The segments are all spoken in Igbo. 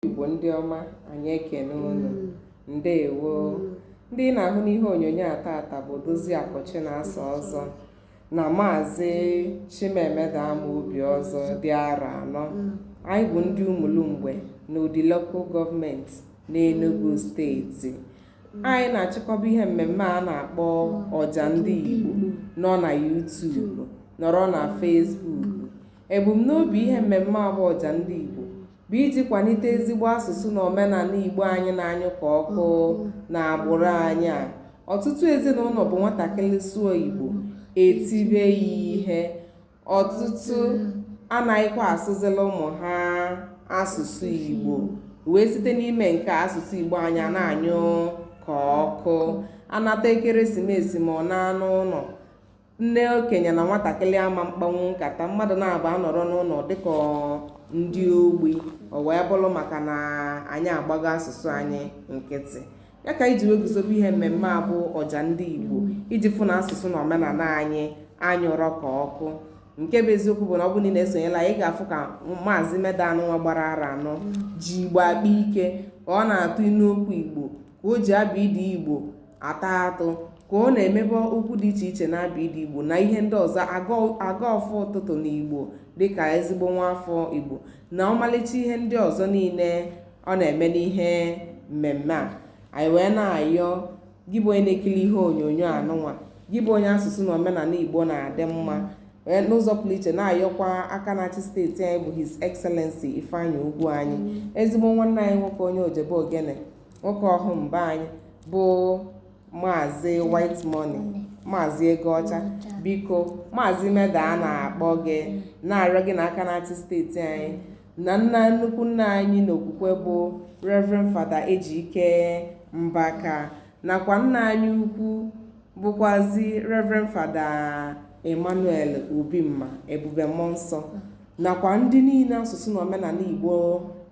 Igbo ndị ọma anyị ekene unu mm. ndewo mm. ndị ị na-ahụ n'ihe onyonyo a tata bụ Odoziakụ Chinasa Ọzọ na maazị Chimemeda Amobi Ọzọ dị arọ anọ mm. anyị bụ ndị Umulumgbe n'Udi local government n'Enugu steeti anyị na-achịkọba ihe mmemme a na-akpọ ọja ndị Igbo nọ na YouTube nọrọ na Facebook ebumnobi ihe mmemme a bụ ọja ndị Igbo bụ iji kwalite ezigbo asụsụ na omenala Igbo anyị na-anyụ ka ọkụ n'agbụrụ anyị a. Ọtụtụ ezinụlọ bụ nwatakịrị sụọ Igbo, e tibe ya ihe. Ọtụtụ anaghịkwa asụzila ụmụ ha asụsụ Igbo. Wee site n'ime nke a asụsụ Igbo anyị ana-anyụ ka ọkụ. A nata ekeresimesi ma ọ naa n'ụlọ Nne okenye na nwatakịrị ama mkpanwu nkata, mmadụ naabọ anọrọ n'ụlọ dịka ndị ogbi, o wee bụrụ maka na anyị agbago asụsụ anyị nkịtị. Ya ka e ji wee guzobe ihe mmemme a bụ ọja ndị Igbo iji fụ na asụsụ na omenala anyị anyụrọ ka ọkụ. Nke bụ eziokwu bụ na ọ bụrụ na ị na-esonyela anyị, ị ga-afụ ka maazị Meda anụnwa gbara arọ anọ ji Igbo akpa ike ka ọ na-atụ inu okwu Igbo ka o ji abịdịị Igbo ata atụ ka ọ na-emebe okwu dị iche iche n'abịdịị Igbo na ihe ndị ọzọ agọ ọfọ ụtụtụ n'Igbo dịka ezigbo nwa afọ Igbo na ọmalịcha ihe ndị ọzọ niile ọ na-eme n'ihe mmemme a anyị wee na-ayọ gị bụ onye na-ekiri ihe onyonyo anụnwa gị bụ onye asụsụ na omenala Igbo na-adị mma Eh, n'ụzọ pụrụ iche na-ayọkwa aka na-achị steeti anyị bụ his excellency Ifeanyị Ugwuanyị mm. ezigbo nwanne anyị nwoke onye Ojebeogene nwoke Ọhụm be anyị bụ maazị white money maazị ego ọcha biko maazị meda a na-akpọ gị na-arịọ gị na aka na-achị steeti anyị na nna nnukwu nna anyị n'okwukwe bụ reverend fada ejike mbaka nakwa nna anyị ukwu bụkwazi reverend fada emmanuel obimma ebube mmụọ nsọ nakwa ndị niile asụsụ na omenala Igbo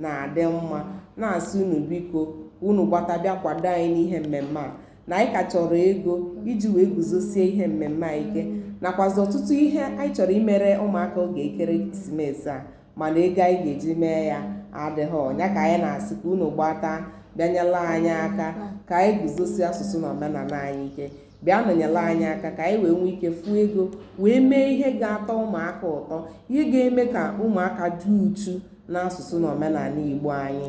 na-adị mma na-asị unu biko unu gbata bịa kwado anyị n'ihe mmemme a na anyị ka chọrọ ego iji wee guzosie ihe mmemme a ike nakwazi ọtụtụ ihe anyị chọrọ imere ụmụaka oge ekeresimesi a mana ego anyị ga-eji mee ya adịghị ọ nya ka anyị na-asị ka unu gbata bịa nyela anyị aka ka anyị guzosie asụsụ na omenala anyị ike bịa nọnyere anyị aka ka anyị wee nwee ike fụ ego wee mee ihe ga-atọ ụmụaka ụtọ ihe ga-eme ka ụmụaka dị uchu n'asụsụ na omenala igbo anyị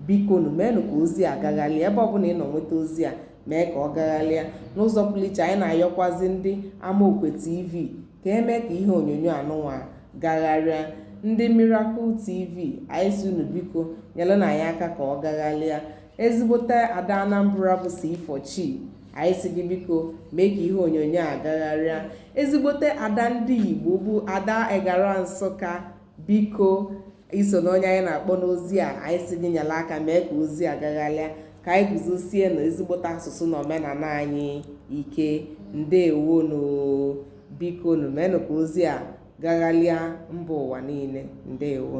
bikonụ meenụ ka ozi a gagharịa ebe ọbụla ị nọ nweta ozi a mee ka ọ gagharịa n'ụzọ pụrụ iche anyị na-ayọkwazi ndị amaokwe tv ka e mee ka ihe onyonyo anụnwa gagharịa ndị miracle tv anyị si unu biko nyerenụ anyị aka ka ọ gagharịa ezigbote ada anambra bụ c4chi anyị si gị biko mee ka ihe onyonyo a gagharịa ezigbote ada ndị igbo bụ ada egara nsụka biko i so na onye anyị na-akpọ n'ozi a anyị si gị nyere aka mee ka ozi a gagharịa ka anyị guzosienụ ezigbote asụsụ na omenala anyị ike ndewonu bikonụ meenụ ka ozi a gagharịa mba ụwa niile ndewo